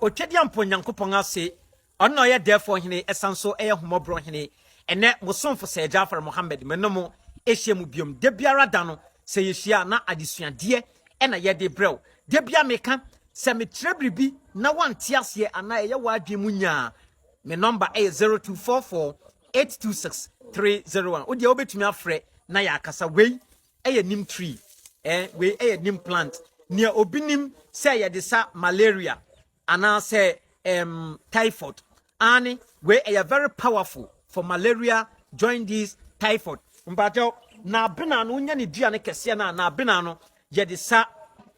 otwadeɛ mpo nyankopɔn ase ɔno na ɔyɛ dɛɛfoɔ hene ɛsan so ɛyɛ homɔborɔ hene ɛnɛ mosomfo sɛ jafar mohammed me no mo ɛhyia mu biom da biara da no sɛ yɛhyia na adesuadeɛ na yɛde brɛ wo. Da biara meka, sɛ mekyerɛ biribi na woante aseɛ anaa ɛyɛ w'adwene mu nyaa a, me nɔmba yɛ 0244826301. Wo deɛ wobɛtumi afrɛ na yɛakasa. Wei yɛ neem tree, wei yɛ neem plant. Nea obi nim sɛ yɛde sa malaria, Anaasɛ ɛɛm typhoid. Aane wei ɛyɛ very powerful for malaria, joindice, typhoid. Mpakyɛw, n'abenaa no wonya ne dua no kɛseɛ no a n'abenaa no yɛde sa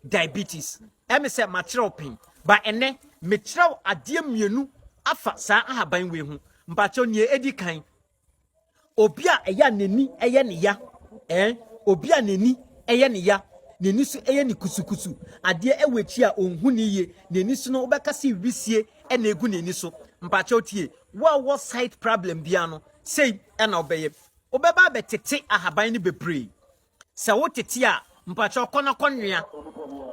diabetes. Ɛme sɛ makyerɛ wo pen but ɛnɛ mekyerɛ wo adeɛ mmienu afa saa ahaban wei ho. Mpakyɛw nea ɛdi kan. obi a ɛyɛ a n'ani yɛ ne ya ɛn obi a n'ani yɛ ne ya n'ani so yɛ ne kusukusu adeɛ wɔ akyi a ɔnhu ne yie n'ani so no wobɛka se wisie na egu n'ani so mpakyɛw tie wo a wɔ site problem biara no sei na wobɛyɛ wobɛba abɛtete ahaban no bebree Sɛ wo tete a mpakyɛw kɔ na kɔ noa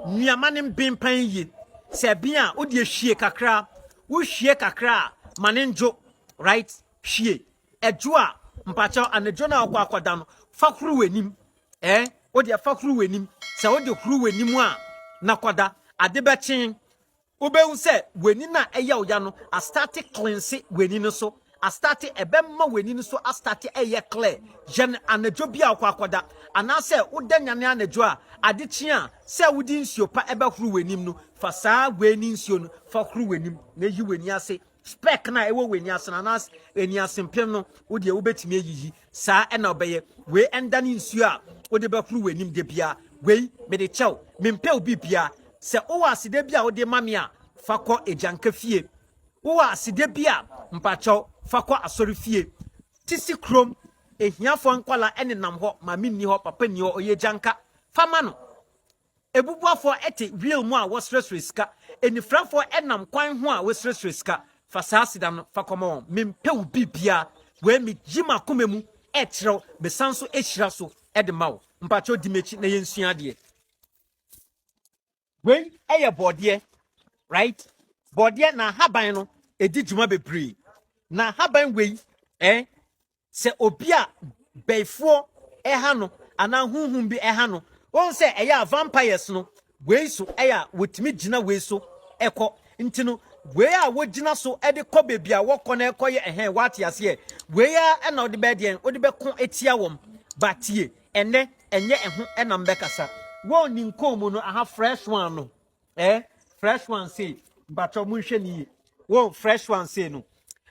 nua ma ne mben pan yie sɛ ɛben a wo deɛ hwie kakra wo hwie kakra a ma ne ndwo right hwie ɛdwo a mpakyɛw anadwo no a wokɔ akɔ da no fa huru w'anim ɛɛ eh, wo deɛ fa huru w'anim sɛ wo de huru w'anim a na kɔ da ade bɛkyen Wobɛhu sɛ w'ani no a ɛyɛ wo ya no astarte cleanse w'ani no so astarte, ɛbɛma w'ani no so astarte ɛyɛ clear. Yɛn anadwo bi a wokɔ akɔda anaasɛ woda nyane anadwo a ade kye a, sɛ wode nsuo pa ɛbɛhoro w'anim no, fa saa wei ne nsuo no fa horo w'anim na yi w'ani ase Spɛk no a ɛwɔ w'ani ase no anaa ani ase mpem no, wo deɛ wobɛtumi ayiyi. Saa na ɔbɛyɛ. Wei ɛndane nsuo a wode bɛhoro w'anim da biara. Wei, mede kyɛ wo. Mempɛ wo biribiara. Sɛ wowɔ aseda bi a wode ma me a, fa kɔ agyanka fie. Wowɔ aseda bi a, mpakyɛw, fa kɔ asɔre fie. Sisi kurom ahiafoɔ nkwadaa nenam hɔ. Maame nni hɔ, papa nni hɔ, ɔyɛ agyanka. Fa ma no. Abubuafoɔ te wiew mu a wɔsrɛsrɛ sika, anifirafoɔ nam kwan ho a wɔsrɛsrɛ sika. Fa saa sida no fa kɔma wɔn. Mempɛ wo biribiara. Wei megye m'akoma mu kyerɛ wo, mesan nso hyira so de ma wo. Mpakyɛw di m'akyi na yɛnsua adeɛ. Wei yɛ bɔɔdeɛ, right? Bɔɔdeɛ, n'ahaban no di dwuma bebree. N'ahaban wei, eh, Sɛ obi a bɛifoɔ ɛha no anaa honhom bi ɛha no, wohu sɛ ɛyɛ a vampires no wei so ɛyɛ a wɔtumi gyina wei so ɛkɔ. Nti no wei a wɔgyina so ɛde kɔ baabi a wɔkɔ no ɛkɔ yɛ ɛhɛn woate aseɛ. Wei ara ɛna wode bɛyɛ deɛn? Wode bɛko atia wɔn. Ba tie, ɛnnɛ ɛnyɛ ɛho ɛna mebɛkasa. Wɔn ninkɔn mu no, aha fresh one no. Eh fresh one sei mpakyɛw monhwɛ ne yie wo fresh one sei no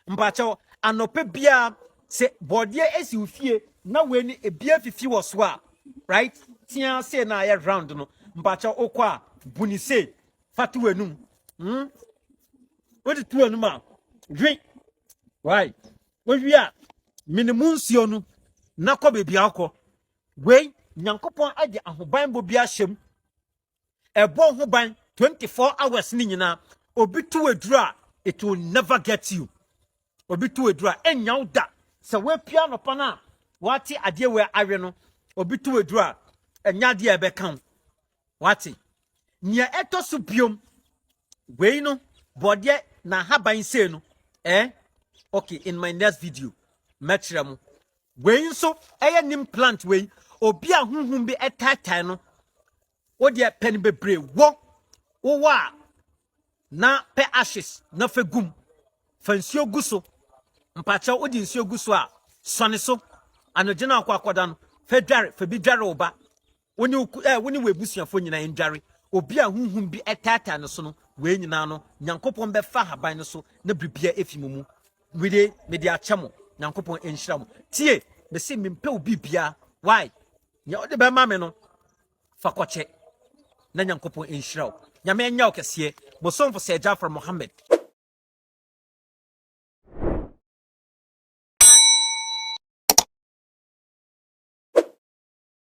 mpakyɛw anɔpɛ biara sɛ bɔɔdeɛ esi wo fie na wei ne ebi afifi wɔ so a right tia sei na ayɛ round no mpakyɛw wokɔ a bu ne sei fa to w'anum mm wode to w'anum a dwe wai wowie a mene mu nsuo no na kɔ baabi akɔ wei nyankopɔn agye ahobanbɔ bi ahyɛm ɛbɔ ho ban 24 hours ne nyinaa obi to aduru a it will never get you obi to aduru a ɛnya wo da sɛ woapia nɔpa no a wate adeɛ wei awe no obi to aduru a ɛnya adeɛ a ɛbɛka wo wate nea ɛtɔ so biom wei no bɔdeɛ na ahaban sei no eh okay in my next video mɛkyerɛ mo Wei nso ɛyɛ nim plant wei obi a huhum bi ɛtaatae no wo deɛ pɛ no bebree wɔ wowɔ a na pɛ ashes na fɛ gum fa nsuo gu so mpakyɛ wode nsuo gu so a sɔne so anɔgye no akɔ akɔda no fɛ dware fɛ bi dware wo ba Wo ne wo eh, wo ne w'abusuafoɔ nyinaa ndware obi a honhom bi ɛtaataa ne so no, wei nyinaa no Nyankopɔn bɛfa ahaban no so na biribiara afi mo mu. Wede mede akyɛ mo, Nyankopɔn nhyira mo. Tie, mese mempɛ wo biribiara, why? Nea wode bɛma me no, fa kɔkyɛ na Nyankopɔn nhyira wo. Nyame nyɛ wo kɛseɛ, mo somfo Sir Jafar Mohammed.